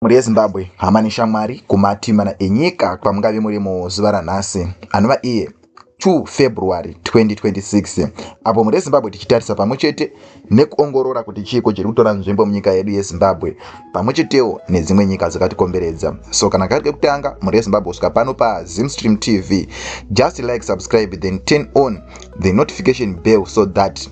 Mhuri yeZimbabwe, hama neshamwari kumati mana enyika kwamungave muri muzuva ranhasi, anova iye 2 February 2026, apo mhuri yeZimbabwe tichitarisa pamwe chete nekuongorora kuti chiiko chiri kutora nzvimbo munyika yedu yeZimbabwe pamwe chetewo nedzimwe nyika dzakatikomberedza. So kana kari kekutanga mhuri yeZimbabwe kusvika pano paZimstream TV, just like, subscribe then turn on the notification bell so that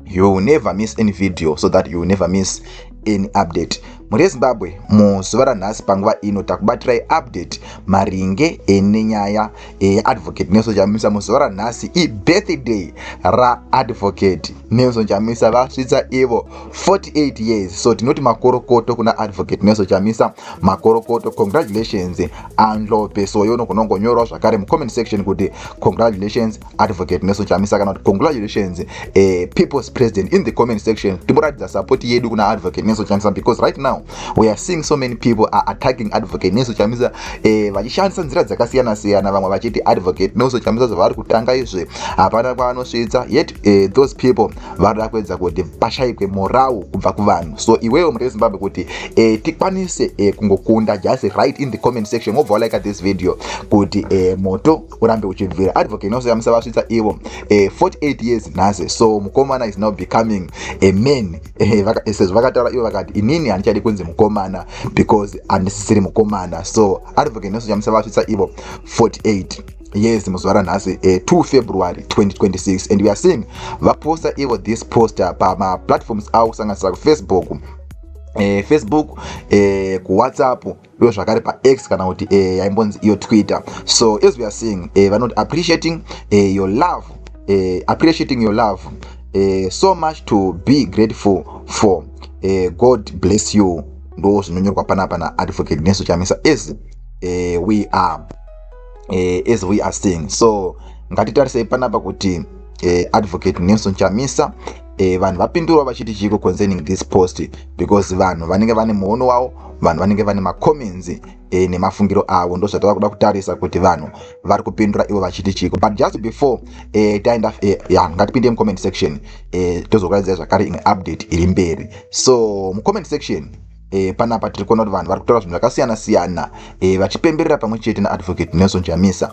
you will never miss any video, so that you will never miss any update. mhuri yezimbabwe muzuva ranhasi panguva ino takubatirai update maringe nenyaya yeadvocate eh, nelson chamisa muzuva ranhasi ibirthday raadvocate nelson chamisa vasvitsa ivo 48 years so tinoti makorokoto kuna advocate nelson chamisa makorokoto congratulations andlope soyo unogonongonyorawo zvakare mucomment section kuti congratulations advocate nelson chamisa kana kuti congratulations uh, people's president in the comment section timboratidza support yedu kuna advocate nelson chamisa because right now we are seeing so many people are attacking advocate nelson chamisa uh, vachishandisa nzira dzakasiyana siyana vamwe vachiti advocate nelson chamisa zvavari kutanga izve hapana kwavanosvitsa yet uh, those people varida kuedza kuti pashaikwe morau kubva kuvanhu so iwewo mutei zimbabwe kuti uh, tikwanise uh, kungokunda just right in the comment section wobva walike this video kuti uh, moto urambe uchinzwira advocate nose yamusavasvitsa ivo eh, 48 years nhasi so mukomana is now becoming a man eh, eh, sezvo vakataura ivo vakati inini handichadi kunzi mukomana because handisisiri mukomana so advocate nose yamusavasvitsa ivo 48 yes muzuva ranhasi uh, eh, 2 february 2026 and we are seeing vaposta ivo this poster pamaplatforms avo kusanganisira kufacebook uh, facebook uh, kuwhatsapp iwe zvakare pax kana kuti eh, yaimbonzi iyo twitter so as we are seeing eh, vanoti appreciating eh, your love eh, appreciating your love eh, so much to be grateful for eh, god bless you ndo zvinonyorwa panapa naadvocate nesu chamisa as eh, we are eh, as we are seeing so ngatitarisei panapa kuti eh, advocate nelson chamisa e, vanhu vapindurwa vachiti chiiko concerning this post because vanhu vanenge vane muono wavo vanhu vanenge vane macomments e, nemafungiro avo ndozvatava kuda kutarisa kuti vanhu vari kupindura ivo vachiti chiiko but just before e, taenda e, ya ngatipinde mucomment section e, tozokuraidzai zvakare imwe update iri mberi so mucomment section e, panapa tiri kuona kuti vanhu vari kutaura zvinhu zvakasiyana siyana e, vachipemberera pamwe chete naadvocate nelson chamisa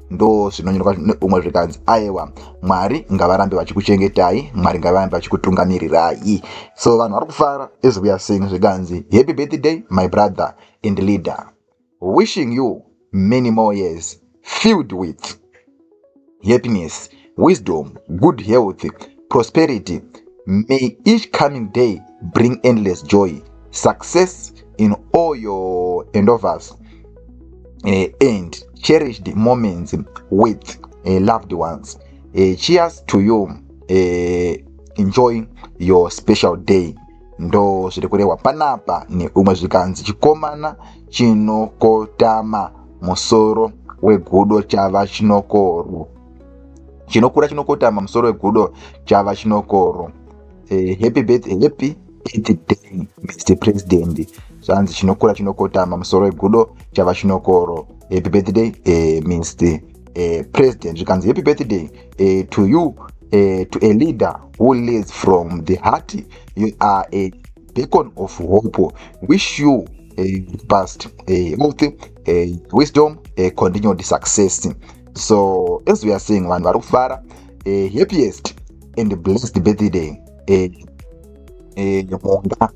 ndo zvinonyorwa umwe zvikanzi aewa mwari ngavarambe vachikuchengetai mwari ngavarambe vachikutungamirirai so vanhu vari kufara as we are saying zvikanzi happy birthday my brother and leader wishing you many more years filled with happiness wisdom, good health, prosperity. May each coming day bring endless joy, success in all your endeavors, uh, and cherished moments with uh, loved ones. Uh, cheers to you. Uh, enjoy your special day. ndo zviri kurehwa panapa neumwe zvikanzi chikomana chinokotama musoro wegudo chava chinokorwo chinokura chinokotama musoro wegudo chava chinokoro eh, happy birthday happy birthday mr president zvanzi chinokura chinokotama musoro wegudo chava chinokoro happy birthday eh, mr eh, president zvikanzi happy birthday eh, to you eh, to a leader who leads from the heart you are a beacon of hope wish you a past a health a wisdom a continued success so as we are seeing vanhu vari kufara eh, happiest and blessed birthday eh, eh, monga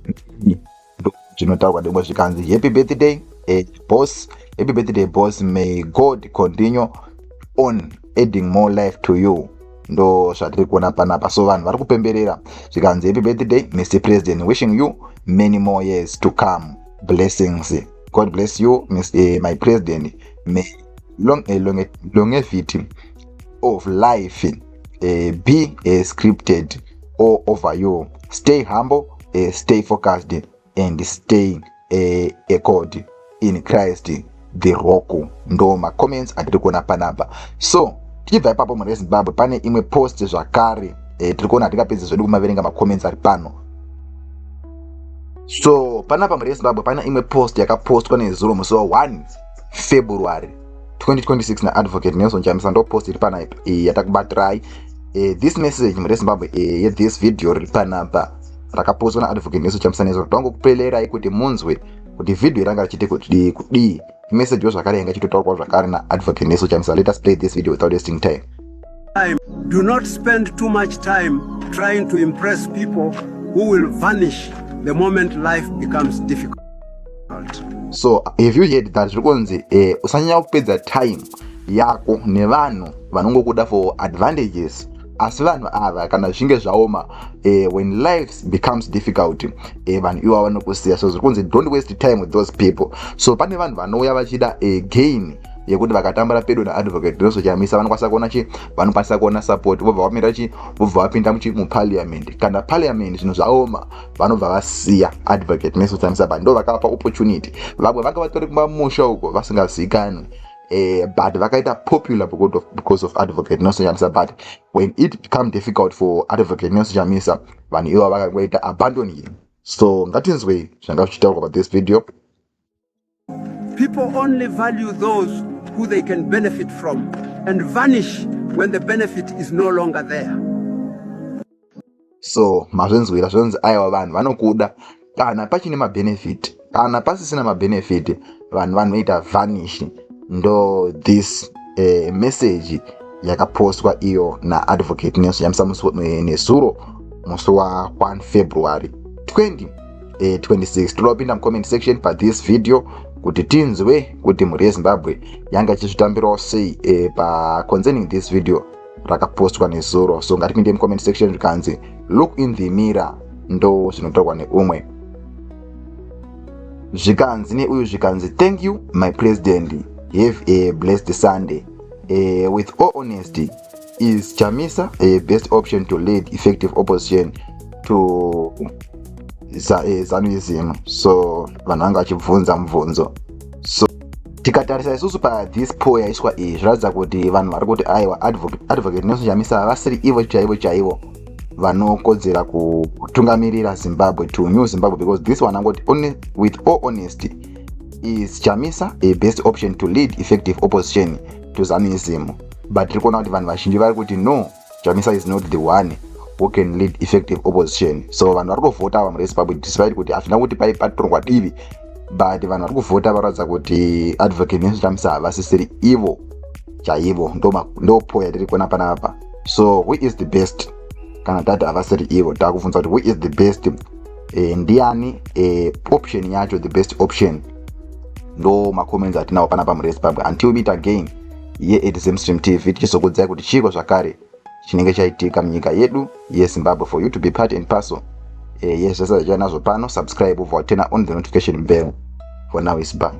zvinotaurwa demwe zvikanzi happy birthday eh, boss happy birthday boss may god continue on adding more life to you ndo zvatiri kuona panapa so vanhu vari kupemberera zvikanzi happy birthday mr president wishing you many more years to come blessings god bless you Ms, eh, my president may long, a eh, long, eh, longevity of life uh, be uh, scripted all over you stay humble uh, stay focused and stay uh, a god in christ the rock ndo macomments atiri kuona panapa so tichibva ipapo mhuri yezimbabwe pane imwe post zvakare uh, tiri kuona hatingapedzi zvedu kumaverenga macomments ari pano so panapa mhuri yezimbabwe pane imwe post yakapostwa nezuro musi wa 1 february 2026 naadvocate nelson chamisa ndopost iri panaipa eh, yatakubatirai eh, this message mure zimbabwe eh, yethis video riri panapa rakapostwa naadvocate nelson chamisa nezo tongo kupelerai kuti munzwe kuti vhidhiyo iranga richiti kudii kudii imesejiwo zvakare yanga ichitotaurwa zvakare naadvocate neso chamisa let us play this video without wasting time time. Do not spend too much time trying to impress people who will vanish the moment life becomes difficult. So, have you heard that zvikonzi eh, usanyanya kupedza time yako nevanhu vanongokuda for advantages asi vanhu ava kana zvichinge zvaoma eh, when life becomes difficult eh, vanhu ivo vanokusiya so zviri kunzi don't waste time with those people so pane vanhu vanouya vachida eh, gain yekuti vakatambura pedo naadvocate Doso Chamisa vanokwanisa kuona chi vanokwanisa kuona support vobva vamira chi vobva vapinda muchi muparliament kana parliament zvinhu zvaoma vanobva vasiya advocate Nelson Chamisa but ndovakapa opportunity vamwe vanga vatori kumamusha uko vasingazikanwi Uh, but vakaita popular because of, because of advocate nelson chamisa but when it become difficult for advocate nelson chamisa vanhu ivo vakangoita abandoning so ngatinzwei zvanga zvichitaurwa pa this video People only value those who they can benefit from and vanish when the benefit is no longer there. So mazvinzwira zvonzi aiwa vanhu vanokuda kana pachine mabenefit kana pasisina mabenefit vanhu vanoita vanish ndo this uh, message yakapostwa iyo naadvocate nelson yamisa musi nezuro musi wa1 february 20 eh, 26 toda kupinda mucomment section pathis video kuti tinzwe kuti mhuri yezimbabwe yanga ichizvitambirawo sei eh, paconcerning this video rakapostwa nezuro so ngatipinde mucomment section zvikanzi look in the mirror ndo zvinotaurwa neumwe zvikanzi neuyu zvikanzi thank you my president have a blessed sunday uh, with all honesty Is Chamisa a best option to lead effective opposition to eh, Zanuism? So vanhu vanga vachibvunza mubvunzo so tikatarisa isusu pathis poll yaiswa iyi zviratidza kuti vanhu vari kuti aiwa advocate nelson chamisa vasiri ivo chaivo chaivo vanokodzera kutungamirira zimbabwe to new zimbabwe because this one angoti with all honesty is chamisa a best option to lead effective opposition to zanuism but tiri kuona kuti vanhu vazhinji vari kuti no chamisa is not the one who can lead effective opposition so vanhu vari kuvhota ava murezimbabwe despite kuti hazvina kuti pai patorwa divi but vanhu vari kuvhota varatidza kuti advocate nelson chamisa havasisiri ivo chaivo ndopo yatiri kuona panapa so who is the best kana tati havasiri ivo takubvunza kuti who is the best e, ndiani e, option yacho the best option ndo macomments atinawo panapa murezimbabwe until meet again yeExamstream TV tichizokuudzai kuti chiiko zvakare chinenge chaitika munyika yedu yeZimbabwe for you to be part and parcel eh, yes zvese zvachiva nazvo pano subscribe ubva waturna on the notification bell for now is bye